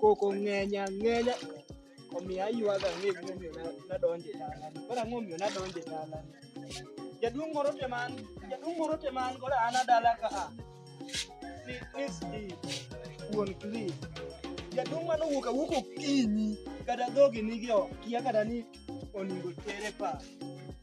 koko ng'eny ang'enya omiyo aywaga ni gimomiyo nadonjo e dalani. Koro ang'o omiyo nadonjo e dalani? Jaduong' moro te man, jaduong' moro te man koro an adala ka a. Ni ni Steve, wuon Cliff. Jaduong' mane owuok awuok okinyi kata dhogi nigi ok kia kata ni onego tere pa.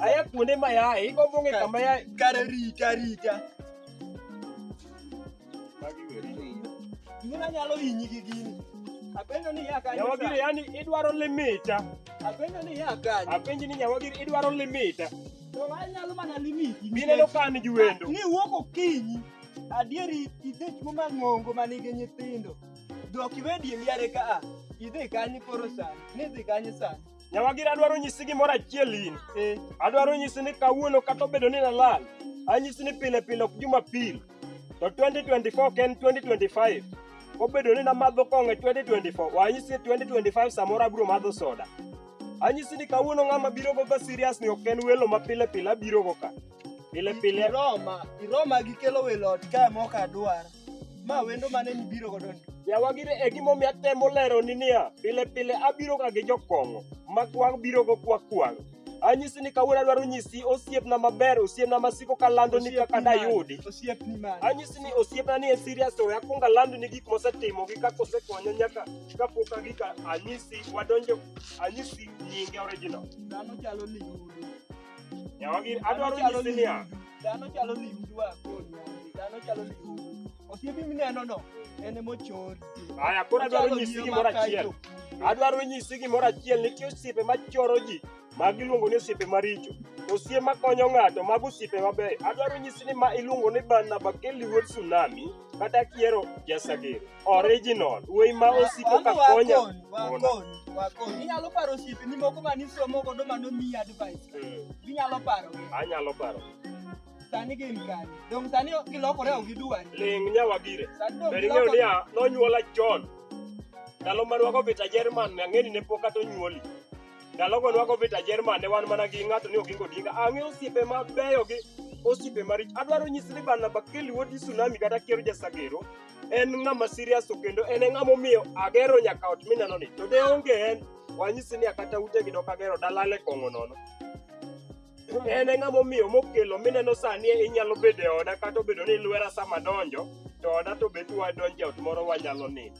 Aya kuonde ma yaye, iko bunge kama yaye. Kare rita rita. Gimana nyalo hinyi gi gini? Apenjo ni ya kanyo. Nyawagiri yani idwaro limita. Apenjo ni ya kanyo. Apenji ni nyawagiri idwaro limita. To anyalo mana limiti. Mineno ka an gi wendo. Ni wuok okinyi. Adieri idhich muma ng'ongo ma nigi nyithindo. Dok iwe diemi yare ka a. Idhi kanyi koro sani. Ni idhi kanyi sani. Nyawagiri adwaro nyisi gimoro achiel in. Eh. Adwaro nyisi ni kawuono kata obedo ni nalal, anyisi ni pile pile ok Jumapil. To 2024 ok en 2025. Obedo ni namadho kong'o e 2024, wanyisi 2025 samoro abiro madho soda. Anyisi ni kawuono ng'ama biro go ka serious ni ok en welo ma pile pile abiro go ka. Pile pile. Iroma, iroma gi kelo welo ot kae mok adwar. Ma wendo mane mibiro godo ni? Yawa gire e gimomiyo atemo lero ni niya, pile pile abiro ga gi jokong'o ma kwang' biro go kwa kwang'. Anyisi ni kawuono adwaro nyisi osiepna maber, osiepna masiko kalando ni kaka dayudi. Osiepni mane? Anyisi ni osiepna ni en serious to akwong alando ni gik mosetimo gi kaka osekonya nyaka kapok agik anyisi wadonjo anyisi nyinge original. Dhano chalo liguru. Nyawagi adwaro nyisi niya. Dhano chalo limdwa kodi. Dhano chalo limdwa. Osiepi mineno no en emochori. Aya koro adwaro nyisi gimoro achiel. Adwaro nyisi gimoro achiel nitie osiepe machoro ji ma giluongo ni osiepe maricho. Osiepe makonyo ng'ato mago osiepe mabeyo. Adwaro nyisi ni ma iluongo ni Barnaba Kelly Wood Tsunami kata kiero Jasagero. Original. Wuoyi ma osiko ka konya. Inyalo paro osiepeni moko ma nisomo godo ma nomiyi advice. Mm. Inyalo paro. Anyalo paro. Sani gin kani. Dong sani gilokore ok gidwar. Ling nyawa gire. Ber ing'eyo niya nonyuola chon. Ndalo ma rwago vita Jerman ne ang'eni ne pok kata onyuoli. Ndalo go rwago vita Jerman ne wan mana gi ng'ato ni Oginga Odinga. Ang'e osiepe mabeyo gi osiepe maricho. Adwaro nyisi ni Barnaba Kelly Wodi Tsunami kata Kiero Jasagero en ng'ama serious to kendo en e ng'ama omiyo agero nyaka ot mineno ni to de onge en wanyisi ni akata ute gi dok agero dalale kong'o nono en e ng'ama omiyo mokelo mineno sani inyalo bedo e oda kata obedo ni lwera sama donjo to oda to bet wadonjo e ot moro wanyalo nini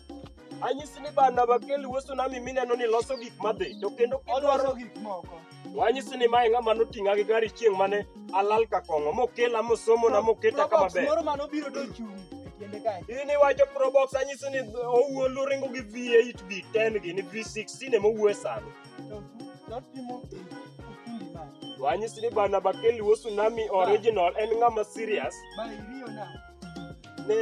anyisi ni bana bakeli weso nami mineno ni loso gik madhi to kendo kidwaro gik moko To anyisi ni mae ng'ama noting'a gi gari chieng' mane alal ka kong'o mokela mosomona moketa kama Probox ber. moro mane obiro dochung' e tiende kae. In iwacho Probox anyisi ni owuo luringo gi V8 B10 gi ni V16 ema owuo e sani. To to otimo kipindi ma To anyisi ni bana Bakeli wo Tsunami original en ng'ama serious. ma iriyo na. Ne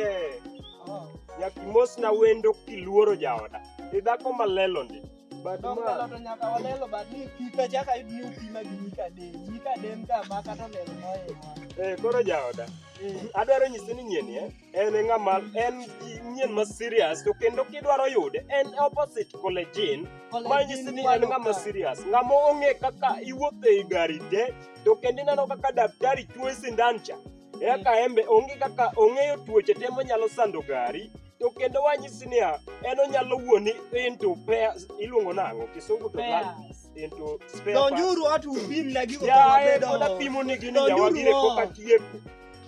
Oh. nyakimosna wendo kiluoro jaoda. Idhako malelo ndi. But Dong ma- ng'ato to nyaka walelo but ni pika chaka yud ni upima gi mika de. Mika de mka ma kata lelo mohewa. Eh, koro jaoda Eh, adwaro nyise ni nyien eh, en e ng'ama en gi- nyien ma serious to kendo kidwaro yude en opposite collejin kole ma nyisi jin ni en kwalo ng'ama ka. serious ng'ama ong'e kaka iwuotho ei gari te to kendo ineno kaka daktari chuoyi sindan cha eka embe onge kaka ong'eyo tuoche te manyalo sando gari to kendo wanyisi niya en onyalo wuoni into pairs iluongo nang'o kisungu to Pairs. into spare parts. donjuru watu upim na gigo Yaye, pod kawabedo apimo ni gini Donjuru jawagire oo. pok atieko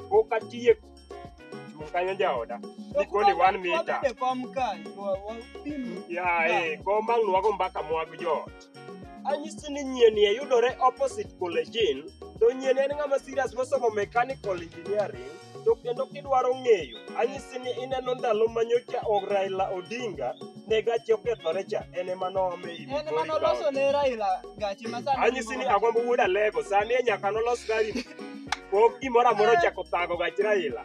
pok atieko chung' kanyo jaoda nikoni one mita kom kae wapim yaye kom ang' nwago mbaka mwag joot Anyisi ni nyieni e yudore opposite Kolejin, to nyieni en ng'ama serious mosomo mechanical engineering to kendo kidwaro ng'eyo, anyisi ni ineno ndalo ma nyocha Raila Odinga ne gache okethore cha en ema noome e en ema noloso ne Raila gache ma sani anyisi ni agombo wuod Alego sani e nyaka nolos gari pok gimoro amora ochako thago gach Raila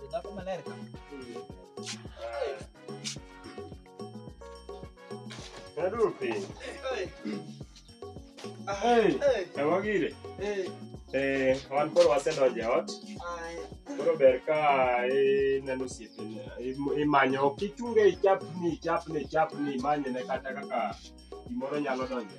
Kita apa malah rekam? Aduh, Pi. Hei. Hei. Kamu gini? Hei. Eh, wan koro wasedonjo e ot. Koro ber ka ineno osiepene, imanyo, ok ichunge ichapni, ichapni, ichapni, imanyone kata kaka gimoro nyalo donjo.